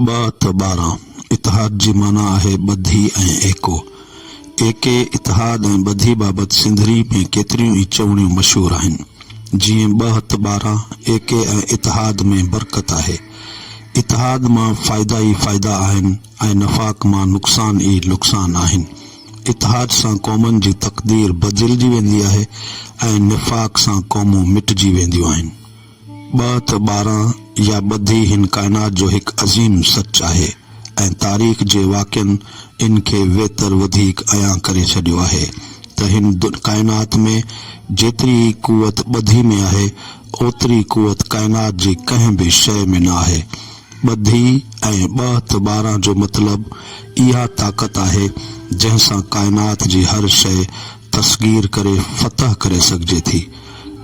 ٻه ته ٻارهن. اتحاد جي معنيٰ آهي ٻڌي ۽ ايڪو. ايڪي، اتحاد ۽ ٻڌي بابت سنڌڙي ۾ ڪيتريون ئي چوڻيون مشهور آهن. جيئن ٻه ته ٻارهن، ايڪي ۽ اتحاد ۾ برڪت آهي. اتحاد مان فائدا ئي فائدا آهن ۽ نفاق مان نقصان ئي نقصان آهن. اتحاد سان قومن جي تقدير بدلجي ويندي آهي ۽ نفاق سان قومون مٽجي وينديون آهن. ٻه ته ٻارهن يا ٻڌي هن ڪائنات جو هڪ عظيم سچ آهي ۽ تاريخ جي واقعن ان کي ويتر وڌيڪ عيان ڪري ڇڏيو آهي ته هن ڪائنات ۾ جيتري ئي قوت ٻڌي ۾ آهي اوتري قوت ڪائنات جي ڪنهن به شيء ۾ نه آهي. ٻڌي ۽ ٻه ته ٻارهن جو مطلب اها طاقت آهي جنهن سان ڪائنات جي هر شيء تسخير ڪري فتح ڪري سگهجي ٿي.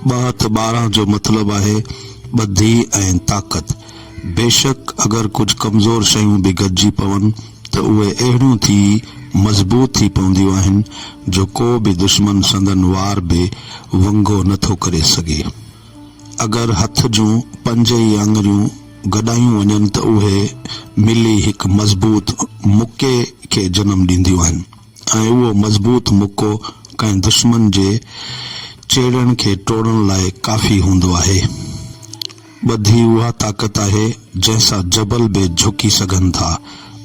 ٻه هٿ ٻارهن جو مطلب آهي ٻڌي ۽ طاقت. بيشڪ اگر ڪجهه ڪمزور شيون به گڏجي پون ته اهي اهڙيون ٿي مضبوط ٿي پونديون آهن جو ڪو به دشمن سندن وار به ونگو نه ٿو ڪري سگهي. اگر هٿ جون پنج ئي آڱريون گڏايون وڃن ته اهي ملي هڪ مضبوط مڪي کي جنم ڏينديون آهن. ۽ اهو مضبوط مڪو ڪنهن دشمن جي چيڙهن کي ٽوڙڻ لاء ڪافي هوندو آهي. ٻڌي اها طاقت آهي، جنهن سان جبل به جهڪي سگهن ٿا.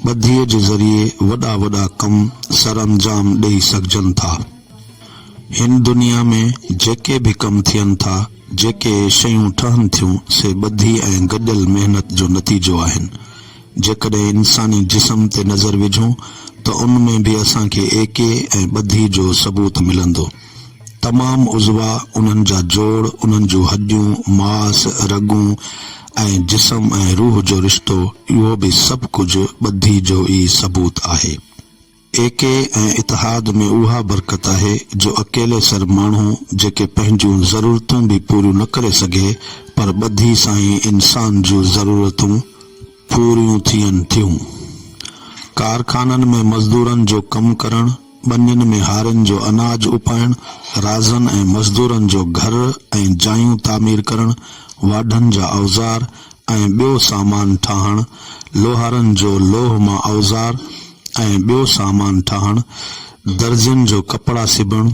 ٻڌيء جي ذريعي وڏا وڏا ڪم سرانجام ڏيئي سگهجن ٿا. هن دنيا ۾ جيڪي به ڪم ٿين ٿا، جيڪي شيون ٺهن ٿيون، سي ٻڌي ۽ گڏيل محنت جو نتيجو آهن. جيڪڏهن انساني جسم تي نظر وجهون ته ان ۾ به اسان کي ايڪي ۽ ٻڌي جو ثبوت ملندو. تمام عضوا، انهن جا جوڙ، انهن جون هڏيون، ماس، رڳون ۽ جسم ۽ روح جو رشتو اهو به سڀ ڪجهه ٻڌي جو ئي ثبوت آهي. اي ڪي ۽ اتحاد ۾ اها برڪت آهي جو اڪيلي سر ماڻهو جيڪي پنهنجون ضرورتون به پوريون نه ڪري سگهي پر ٻڌي سائين انسان جون ضرورتون پوريون ٿين ٿيون. ڪارخانن ۾ مزدورن جو ڪم ڪرڻ، ٻنين ۾ هارين جو اناج اپائڻ، رازن ۽ مزدورن جو گهر ۽ جايون تعمير ڪرڻ، واڍن جا اوزار، ۽ ٻيو سامان ٺاهڻ، لوهارن جو لوهه مان اوزار ۽ ٻيو سامان ٺاهڻ، درزين جو ڪپڙا سبڻ،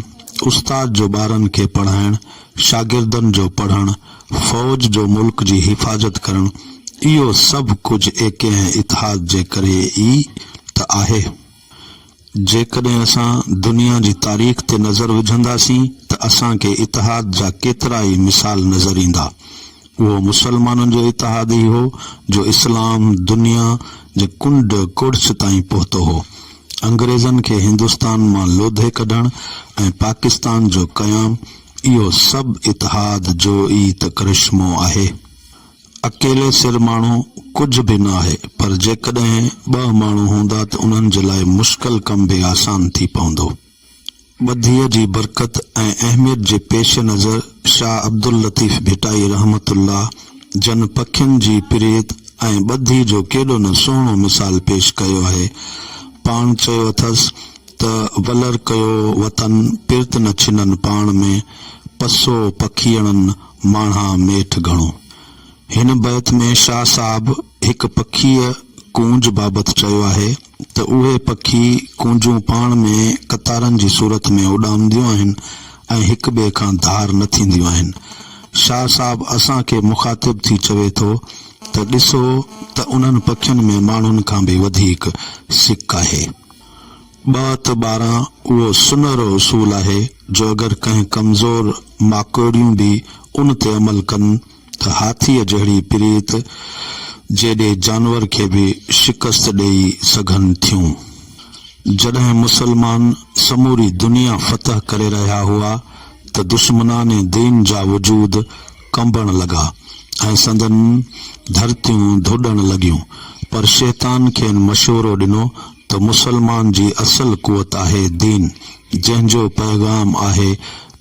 استاد جو ٻارن کي پڙهائڻ، شاگردن جو پڙهڻ، فوج جو ملڪ جي حفاظت ڪرڻ، اهو سڀ ڪجهه ايڪي ۽ اتحاد جي ڪري ئي ته آهي. جيڪڏهن اسان دنيا جي تاريخ تي نظر وجهنداسين ته اسان کي اتحاد جا ڪيترا ئي مثال نظر ايندا. اهو مسلمانن جو اتحاد ئي هو جو اسلام دنيا جي ڪنڊ ڪڙڇ تائين پهتو هو. انگريزن کي هندستان مان لوڌي ڪڍڻ ۽ پاڪستان جو قيام اهو سڀ اتحاد جو ئي ته ڪرشمو آهي. اڪيلي سر ماڻهو ڪجهه به نه آهي، پر جيڪڏهن ٻه ماڻهو هوندا ته انهن جي لاء مشڪل ڪم به آسان ٿي پوندو. ٻڌيء جي برڪت ۽ اهميت جي پيش نظر شاهه عبداللطيف ڀٽائي رحمة الله جن پکين جي پريت ۽ ٻڌي جو ڪيڏو نه سهڻو مثال پيش ڪيو آهي. پاڻ چيو اٿس ته ولر ڪيو وتن پرت نه ڇنن پاڻ ۾، پسو پکيئڙن، ماڻها ميٺ گهڻو. هن بيت ۾ شاهه صاحب هڪ پکيء، ڪونج، بابت چيو آهي ته اهي پکي، ڪونجون، پاڻ ۾ قطارن جي صورت ۾ اڏامنديون آهن ۽ هڪ ٻئي کان ڌار نه ٿينديون آهن. شاهه صاحب اسان کي مخاطب ٿي چوي ٿو ته ڏسو ته انهن پکين ۾ ماڻهن کان به وڌيڪ سڪ آهي. ٻه ته ٻارهن اهو سنهرو اصول آهي جو اگر ڪنهن ڪمزور ماڪوڙيون به ان تي عمل ڪن ته هاٿيء جهڙي پريت جيڏي جانور کي به شڪست ڏيئي سگهن ٿيون. جڏهن مسلمان سموري دنيا فتح ڪري رهيا هئا ته دشمنان دين جا وجود ڪنبڻ لڳا ۽ سندن ڌرتيون ڌوڏڻ لڳيون پر شيطان کين مشورو ڏنو ته مسلمان جي اصل قوت آهي دين جنهن جو پيغام آهي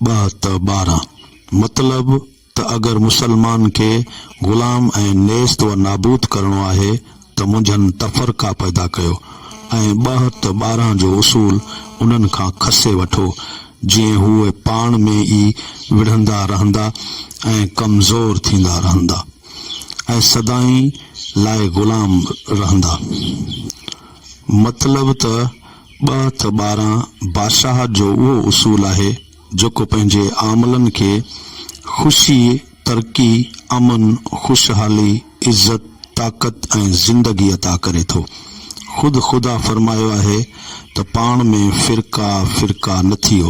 ٻه ته ٻارهن مطلب ته اگر مسلمان کي غلام ۽ نيست و نابود ڪرڻو آهي ته منجهن تفرقا پيدا ڪيو ۽ ٻه ته ٻارهن جو اصول انهن کان کسي وٺو جيئن هو پاڻ ۾ ئي وڙهندا رهندا ۽ ڪمزور ٿيندا رهندا. ۽ سدائين لاء غلام رهندا. مطلب ته ٻه ته ٻارهن بادشاهت جو اهو اصول آهي جيڪو پنهنجي عاملن کي خوشي، ترقي، امن، خوشحالي، عزت، طاقت ۽ زندگي عطا ڪري ٿو. خود خدا فرمايو آهي ته پاڻ ۾ فرقا فرقا نه ٿيو.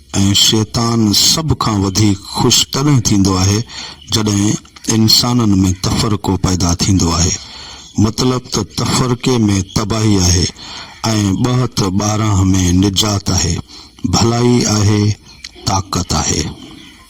۽ شيطان سڀ کان وڌيڪ خوش تڏهن ٿيندو آهي جڏهن انسانن ۾ تفرقو پيدا ٿيندو آهي مطلب ته تفرقي ۾ تباهي آهي ۽ ٻهت ٻارانهن ۾ نجات آهي ڀلائي آهي طاقت آهي.